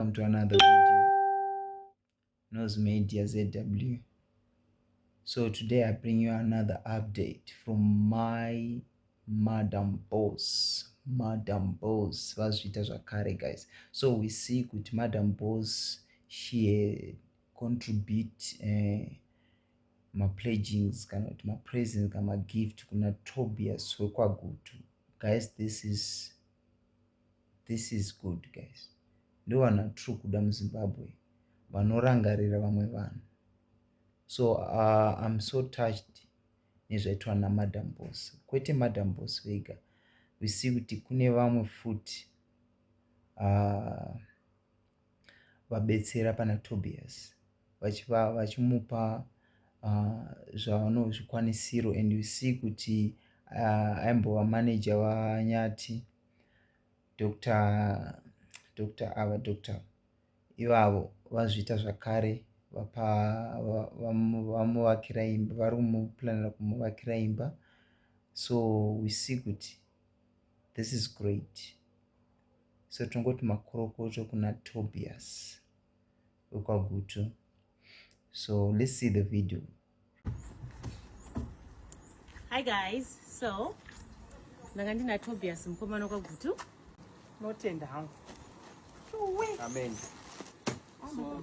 welcome to another video knows media zw so today i bring you another update from my madam boss madam boss vazviita zvakare guys so we see kuti madam boss she contribute uh, eh, mapledgings kana kuti mapresents kana magift kuna tobias wekwagutu guys this is this is good guys ndovanhu vatiri kuda muzimbabwe vanorangarira vamwe vanhu so uh, im so touched nezvaitwa namadam bos kwete madam bos vega visi kuti kune vamwe futi uh, vabetsera pana Tobias vachiva vachimupa uh, zvavano zvikwanisiro and you see kuti uh, aimbova manager vanyati Dr. Dr. ava Dr. ivavo vazviita zvakare vapa vamuvakira imba vari kumuplanira kumuvakira imba so we see kuti this is great so tongoti makorokoto kuna tobias wekwagutu so let's see the video hi guys so ndanga ndina tobias mukomana wekwagutu notenda hangu amen so,